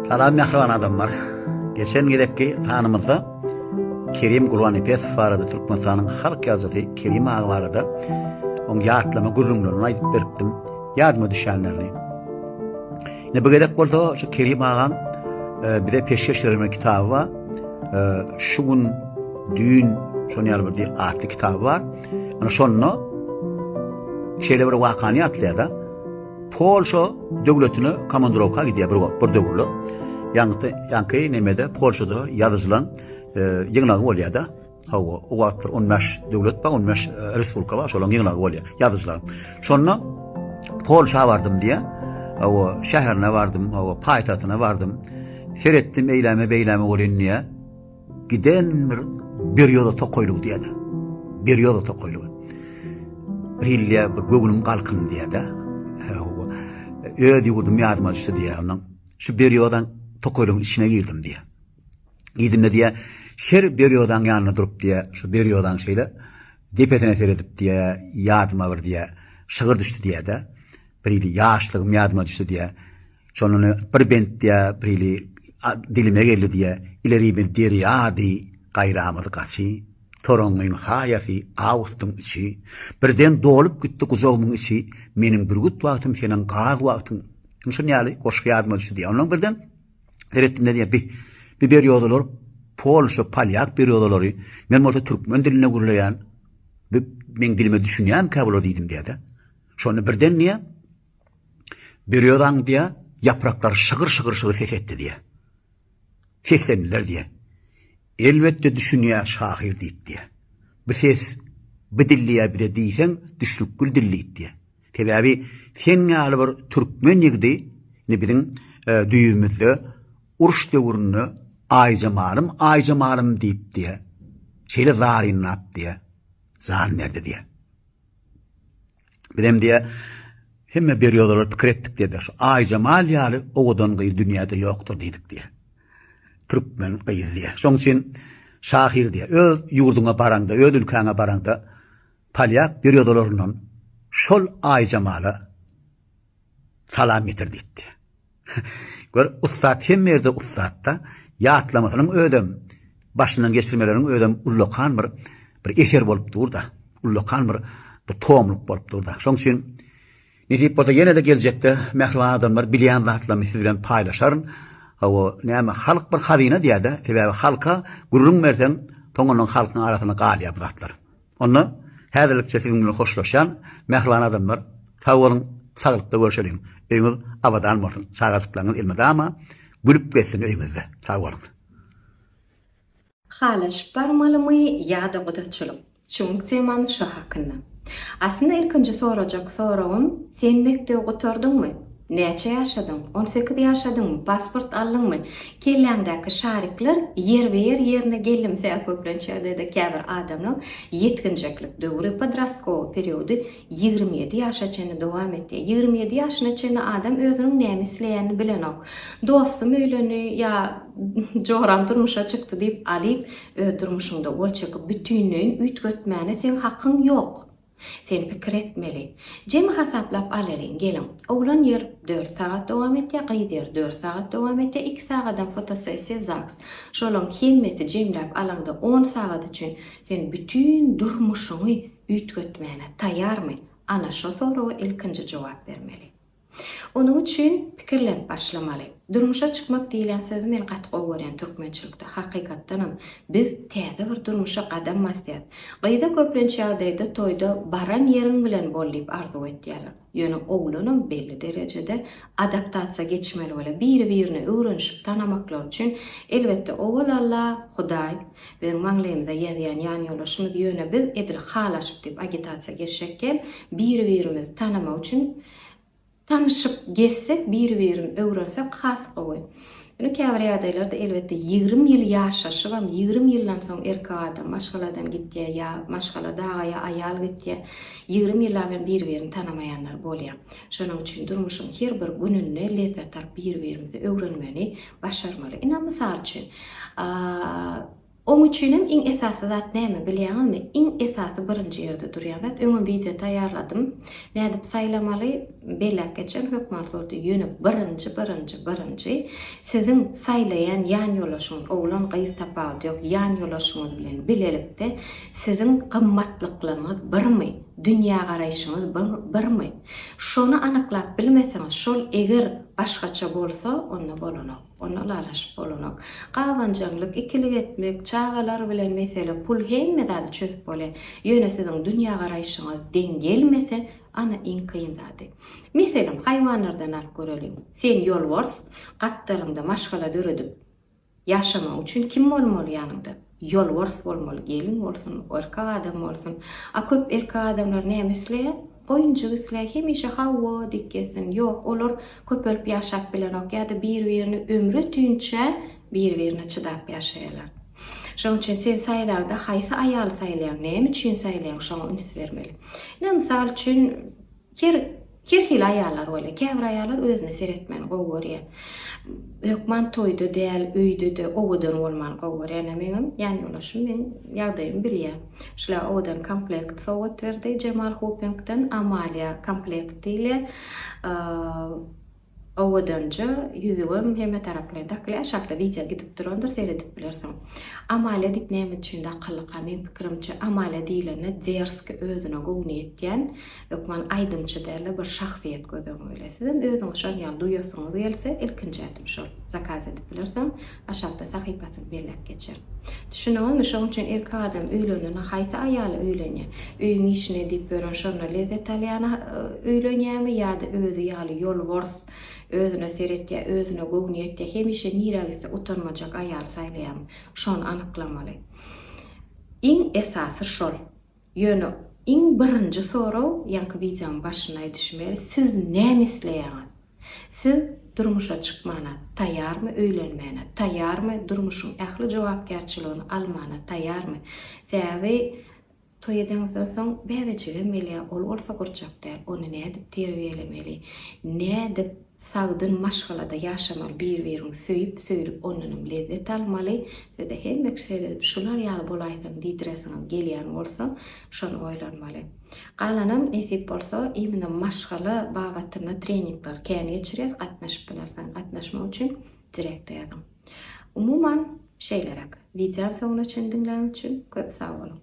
Salam mähriban adamlar. Geçen gezekki sanymyzda Kerim Gurbannepesow barada Türkmenistanyň halk ýazyjysy Kerim aga barada oň ýatlama gürrüňlerini aýdyp beripdim. Ýadyma düşenlerini. Ine bu gezek bolsa şu Kerim agaň e, bize peşgeş berme kitaby bar. E, şu gün düýn şony ýaly bir atly kitaby bar. Ana şonda şeýle bir wakany ýatlaýar-da. Polşa döwletine komandrowka gidýär bir wagt, bir döwürler. Ýaňky, ýaňky nemede Polşada ýazyjylaň e, ýygnagy bolýar-da. Hawa, o wagtlar 15 döwlet bar, 15 e, respublika bar, şolaryň ýygnagy bolýar, ýazyjylar. Şonda Polşa bardym diýä. Hawa, şäherine bardym, hawa, paýtagtyna bardym. Seretdim eýläme beýläme bolýan diýä. Giden bir berýoza tokaýlygy diýýär. Berýoza tokaýlygy. Bir ilýä bir göwnüm galkyn diýýär-de. Öz ýurdum ýadyma düşdi diýýär onuň. Şu berýozaň tokaýlygyň içine girdim diýýär. Girdim-de diýýär, her berýozaň ýanynda durup diýýär, şu berýozaň şeýle depesine seredip diýýär, ýadyma bir diýýär, şygyr düşdi diýýär-de. Birili ýaşlygym ýadyma düşdi diýýär. Şondan bir bent diýýär, birili dilime geldi diýýär. Ilerimiz derýady, gaýramyz gaçy, Toraňňyň saýasy, awgustyň içi. Birden dolup gitdi gujagymyň içi, Meniň bürgüt wagtym, seniň gaz wagtyň. Şun ýaly goşgy ýadyma düşdi diýýär. Ondan birden seretdim-de diýýär, bi bi berýodalar polşa, polýak berýodalary, men bolsa türkmen dilinde gürleýän, bi meň dilime düşünýänkä bular diýdim diýýär-de. Şonda birden diýýär, Berýozaň diýýär, ýapraklar şygyr-şygyr-şygyr ses etdi diýýär. Seslendiler diýýär. Elbetde düşünýär şahyr diýip diýýär. Bu ses, bu dil diýýär bize diýseň, düşnükgül dil diýip diýýär. Sebäbi sen ýaly bir türkmen ýigidi indi biziň düýbümizde uruş döwründe Aýjemalym, Aýjemalym diýip diýýär. Şeýle zarynlap diýýär. Jan berdi diýýär. Bizem diýe hemme bir ýolara pikir etdik diýe şu Aýjemal ýaly owadan gyz dünýäde ýokdur diýdik diýe. Türkmen gyz diýe. Şoň üçin şahyr diýe. Öz ýurduňa baraňda, öz ülkäňe baraňda polýak bir ýodalaryndan şol Aýjemala Salam getir diýipdi. Gör, ussat hemme ýerde ussat-da. Ýatlamasynyň özem, başyndan geçirmeleriň özem ullakan bir bir eser bolup dur-da. Ullakan bir bir tomluk bolup dur-da. Şoň üçin nesip bolsa ýene-de geljekde mähriban adamlar bilýän zatlarymy siz bilen paýlaşaryn. Hawa, näme, halk bir hazyna diýýär-de. Sebäbi halka gürrüň berseň, soňundan halkyň arasynda galýar bu zatlar. Onda häzirlikçe siziň bilen hoşlaşýan mähriban adamlar sag boluň, saglykda görşeliň, öýüňiz abadan bolsun, çagajyklaryňyz elmydama gülüp gezsin öýüňizde. Sag boluň. Halaşyp barmalymy ýa-da gudaçylyk? Çüňk temany şo hakynda. Aslynda ilkinji sorajak soragym sen mekdebi gutardyňmy? Näçe ýaşadyň? On sekiz ýaşadyňmy? Pasport aldyňmy? Kelläňdäki şarikler ýerbe-ýer ýerine gelimse, köplenç ýagdaýda käbir adamlaň ýetginjeklik döwri, podrostkowyý periody, ýigrimi ýedi ýaşa çenli dowam etýär. Ýigrimi ýedi ýaşyna çenli adam özüniň näme isleýänini bilenok. Dostum öýlendi ýa joram durmuşa çykdy diýip, Alip, öz durmuşyňda gol çekip, bütinleýin üýtgetmäne seň hakyň ýok. Sen pikir etmeli. Jemi hasaplap alalyň, geliň. Oglan ýer dört sagat dowam etýär, gyz ýer dört sagat dowam etýär, iki sagadam fotosessiýa, zaks. Şolaň hemmesi jemläp alaňda on sagat üçin sen bütin durmuşyňy üýtgetmäne taýarmy? Ana şo soraga ilkinji jogap bermeli. Onuň üçin pikirlenip başlamaly. Durmuşa çykmak diýilen sözi men gaty gowy görýän türkmençilikde. Hakykatdanam, biz täze bir durmuşa gadam basýas. Gyza köplenç ýagdaýda toýda baran ýeriň bilen bol diýip arzuw etýärler. Ýöne oglanam belli derejede adaptasiýa geçmeli bolýar. Biri-birini öwrenişip tanamaklary üçin, elbetde, owal-alla Hudaý, Biziň maňlaýymyza ýazýan ýanýoldaşymyz ýöne biz edil halaşyp diýip agitasiýa geçjek däl, biri-birimizi tanamak üçin tanyşyp gezsek, biri-birini öwrensek has gowy. Ýöne käbir ýagdaýlarda elbetde ýigrimi ýyl ýaşaşybam, ýigrimi ýyldan soň erkek adam maşgaladan gitýär ýa maşgala dagaýa aýal gitýär, ýigrimi ýyllap hem biri-birini tanamaýanlar bolýar. Şonuň üçin durmuşyň her bir gününde lezzet alyp biri-birimizi öwrenmeli, Başarmaly. Ine, mysal üçin, oň üçinem iň esasy zat näme bilýäňizmi? Iň esasy birinji ýerde durýan zat, öňem wideo taýýarladym. Nädip saýlamaly? Belläp geçen hökman zordy. Ýöne birinji, birinji, birinji siziň saýlaýan ýanýoldaşyňyz, oglan-gyz tapawudy ýok, ýanýoldaşyňyz bilen bilelikde siziň gymmatlyklaryňyz birmi? Dünýägaraýşyňyz birmi? Şony anyklap bilmeseňiz, şol eger Başgaça bolsa, onda bolanok. Onda ylalaşyp bolanok. Gabanjaňlyk, ikilik etmek, çagalar bilen mesele, pul hemme zady çözüp bolýar. Ýöne siziň dünýägaraýşyňyz deň gelmese, ana iň kyn zady. Meselem, haýwanlardan alyp göreliň. Sen ýolbars, gapdalyňda maşgala döredip, Ýaşamak üçin kim bolmaly ýanyňda? Ýolbars bolmaly gelin bolsun, erkek adam bolsun. A köp erkek adamlar näme isleýär? Goýunjyk isleýär, hemişe hawa diýip gezsin. Ýok, olar köpelip ýaşap bilenok ýa-da bir-birini ömri ötünçä bir-birine çydap ýaşaýarlar. Şonuň üçin sen saýlaňda haýsy aýaly saýlaýaň, näme üçin saýlaýaň şoňa üns bermeli. Ine mysal üçin Her her hili aýallar bolýar. Käbir aýallar özüne seretmegini gowy görýär. Hökman toýda däl, öýde-de owadan bolmany gowy görýär. Ýöne meňem ýan ýoldaşym meň ýagdaýymy bilýär. Şular owadan komplekt sowgat berdi Jemal Hopingden, Amalia komplekt diýilýär. Owadanja ýüzügem hemme tarap bilen dakly aşakda wideo gidip durandyr seredip bilersiň. Amalia diýip näme üçin dakyldyka meň pikirimçe Amalia diýlende derski özüne gowny ýetýän hökman aýdymçy dälde bir şahsyýet göz öňüňe gelýär. Sizem özüňiz şon ýaly duýasyňyz gelse ilkinji ädim şol zakaz edip bilersiň. Aşakda sahypasyny belläp geçer. Düşüniňizmi, şoň üçin erkek adam öýlenende haýsy aýala öýlenýär? Öýüň işini edip ýören, şonda lezzet alýana öýlenýärmi ýa-da özi ýaly ýolbors, özüne seretýär, özüne göwni ýetýär, hemişe nirä gitse utanmajak aýaly saýlaýarmy? Şony anyklamaly. Iň esasy şol. Ýöne iň birinji sorag, ýaňky wideonyň başynda aýdyşym ýaly, siz näme isleýäňiz? Siz durmuşa çykmana taýýarmy öýlenmäne taýýarmy durmuşyň ähli jogapkärçiligini almana taýýarmy sebäbi toý edeňizden soň bäbejigem gelýär ol bolsa gurjak däl ony nädip terbiýelemeli nädip sagdyn maşgalada ýaşamaly bir biriňi söýüp söýlüp ondanam lezzet almaly sizde hemmeç seredip şular ýaly bolaýsam diýdiresiňem gelýän bolsa şony oýlanmaly. Galanam nesip bolsa imina maşgala babatynda treningler kän geçirýäs gatnaşyp bilersiň gatnaşmak üçin direkte ýazyň. Umuman şeýleräk. Wideony soňuna çen diňläň üçin köp sag boluň.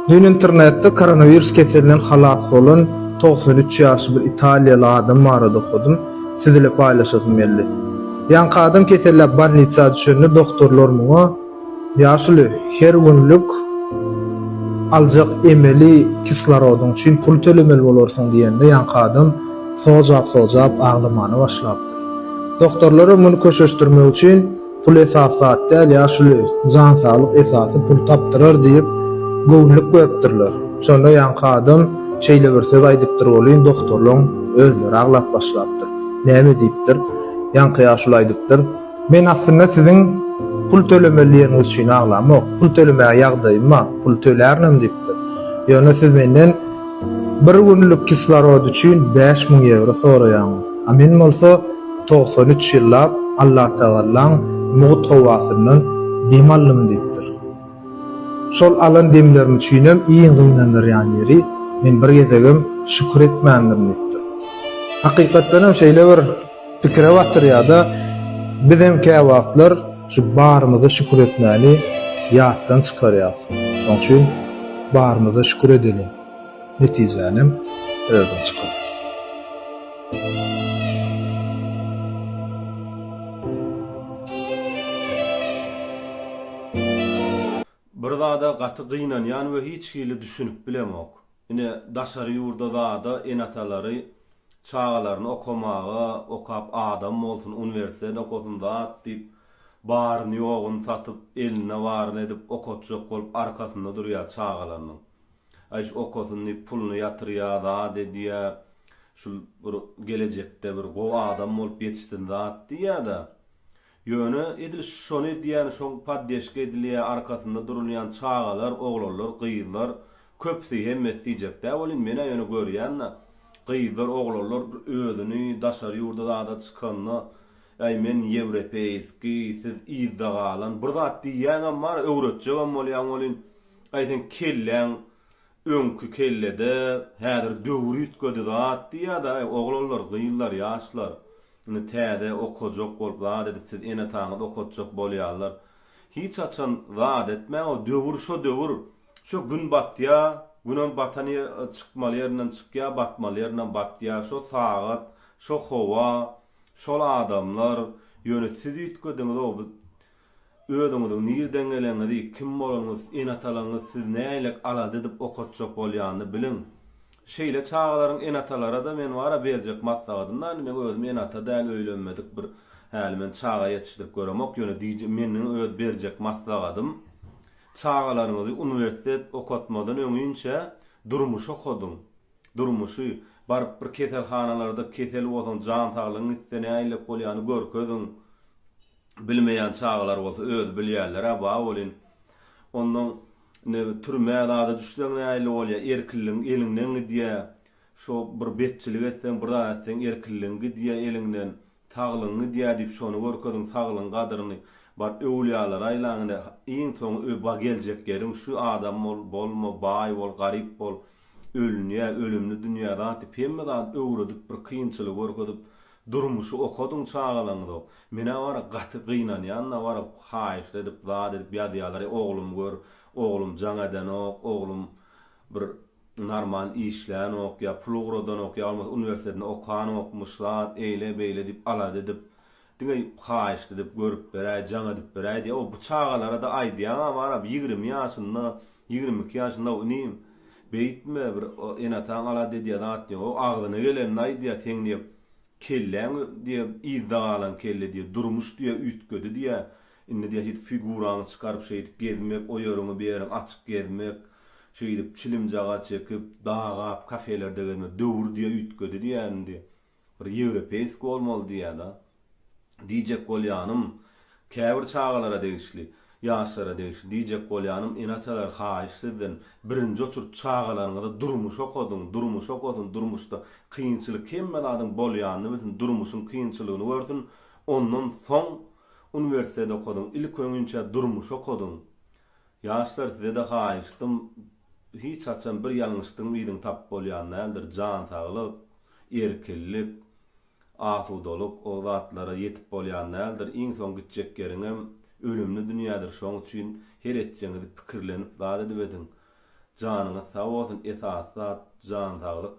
Dün internetde koronawirus keselinden halas bolan togsan üç ýaşly bir italiýaly adam barada okadym. Siz ile paýlaşasym geldi. Ýaňky adam keselläp bolnitsa düşende doktorlar muňa, Ýaşuly, her günlük aljak emeli kislorodyň üçin pul tölemeli bolarsyň diýende ýaňky adam sojap-sojap aglamana başlapdyr. Doktorlaram muny köşeşdirmek üçin Pul esasy zat däl, ýaşuly, jan saglyk esasy, pul tapdyrar diýip, göwünlik beripdirler. Şonda ýaňky adam şeýle bir söz aýdypdyr welin, doktorlaryň özleri aglap başlapdyr. Näme diýipdir? Ýaňky ýaşuly aýdypdyr. Men aslynda siziň pul tölemeli ýeriňiz üçin aglamok. Pul tölemäge ýagdaýym bar, pul tölärinem diýipdir. Ýöne siz menden bir günlük kislorod üçin bäş müň ýewro soraýaňyz. A men bolsa togsan üç ýyllap Allatagallaň mugt howasyndan dem aldym diýipdir. Şol alan demlerim üçinem iň gynandyrýan ýeri, men bir gezegem şükür etmändirin diýipdir. Hakykatdanam şeýle bir. Pikire batyrýar-da, bizem käwagtlar şu barymyza şükür etmäni ýatdan çykarýarys. Şonuň üçin barymyza şükür edeliň, netijänem özüň çykar. Bir zada gaty gynanýan we hiç hili düşünip bilemok. Ine, daşary ýurda zada ene-atalary çagalaryny okamaga, okap adam bolsun, uniwersitet okasyn zat diýip, baryny-ýoguny satyp, elinde baryny edip okatjak bolup arkasynda durýar çagalarynyň. Aý, şu okasyn diýip puluny ýatyrýa, zat edýä, şul bir gelejekde bir gowy adam bolup ýetişsin zat diýýä-de, Ýöne edil şony edýän şoň poddeşka edilýä arkasynda durulýan çagalar oglanlar gyzlar köpsi hemmesi diýjekdä welin menä ýöne görýända gyzlar oglanlar özüni daşary ýurda zada çykanda äý men ýewrepeýski siz yzda galan bir zat diýýäňem bar öwretjegem bolýaň welin äý seň kelläň Öňki kellede häzir döwür üýtgedi zat diýýäda aý oglanlar gyzlar ýaşlar indi täze okajak bolup zat edip siz ene ataňyz okatjak bolýarlar hiç haçan zat etmäň o döwür şo döwür şo gün batýa günem batan ýe çykmaly ýerinden çykýa batmaly ýerinden batýa şo sagat şo howa şol adamlar ýöne siz üýtgediňiz o Özüňiziň nirden geleniňizi, kim bolanyňyz, ene-atalaryňyz sizi nälelik alada edip okatjak bolýanyny biliň. Şeýle çagalaryň ene-atalara-da men bara berjek maslahatym indi men özüm ene-ata däl, öýlenmedik bir häli men çaga ýetişdirip göremok, ýöne diýjek meniň öz berjek maslahatym, çagalaryňyzy uniwersitet okatmadan öňinçä durmuşy okadyň. Durmuşy, baryp bir keselhanalarda kesel bolsaň, jan saglygyň gitse nälelik bolýany görkeziň. Bilmeýän çagalar bolsa özi bilýärler-ä ba welin, onnoň indi türmä zada düşseň nähili bolýar, erkinligiň eliňden gidýär, şo bir betçilik etseň, bir zat etseň erkinligiň gidýär eliňden, saglygyň gidýär diýip şony görkeziň, saglygyň gadyryny, baryp öwlüýälere aýlaň, ine, iň soňy ö ba geljek ýeriň şu, adam bol, bolma, baý bol, garyp bol, ölünýär, ölümli dünýä zat diýip hemme zady öwredip, bir kynçylygy görkezip, Durmuşy okadyň çagalaňyza menä bara gaty gynanýanda bara haýyşt edip zat edip ýazýalar e oglum gör oglum jaň edenok oglum bir narman işlänok ýa pul ugradanok ýa bolmasa uniwersitetinde okanokmyş zat eýle beýle diýip alada edip diňe haýyşt edip görüp beräý jaň edip beräý diýýa o bu çagalarada aýdýaňa barab ýigrimi ýaşynda Ýigrimi iki ýaşynda-w inim. Beýtme, bir ene-ataň alada edýän zat ýok. O agzyna gelenini aýdýar, seň diýýär, kelläň diýýär, yzda galan kelle diýýär, durmuş diýýär, üýtgedi diýýär. Indi diýýär, şeýdip figuraňy çykaryp, şeýdip gezmek, o ýeriňi, bu ýeriňi açyk gezmek, şeýdip çilimjagaç çekip, dagap, kafelerde gezmek, döwür diýýär, üýtgedi diýýär indi. Bir ýewropeýski bolmaly diýýä-da. Diýjek bolýanym, käbir çagalara degişli, ýaşlara degişli diýjek bolýanym, ene-atalar, haýyş sizden, birinji oçurt çagalaryňyza durmuş okadyň, durmuş okasyn, durmuşda kynçylyk hemme zadyň bolýanyny bilsin, durmuşyň kynçylygyny görsün, ondan soň uniwersiteti okadyň, ilk öňinçä durmuşy okadyň. Ýaşlar sizede haýyştym hiç haçan bir ýalňyşdyň yzyň tap bolýan däldir jan saglyk erkinlik asudalyk o zatlara ýetip bolýan däldir iň soň gitjek ýeriňem ölümli dünýädir şoň üçin her etjeňizi pikirlenip zat edip ediň janyňyz sag bolsun esasy zat jan saglyk.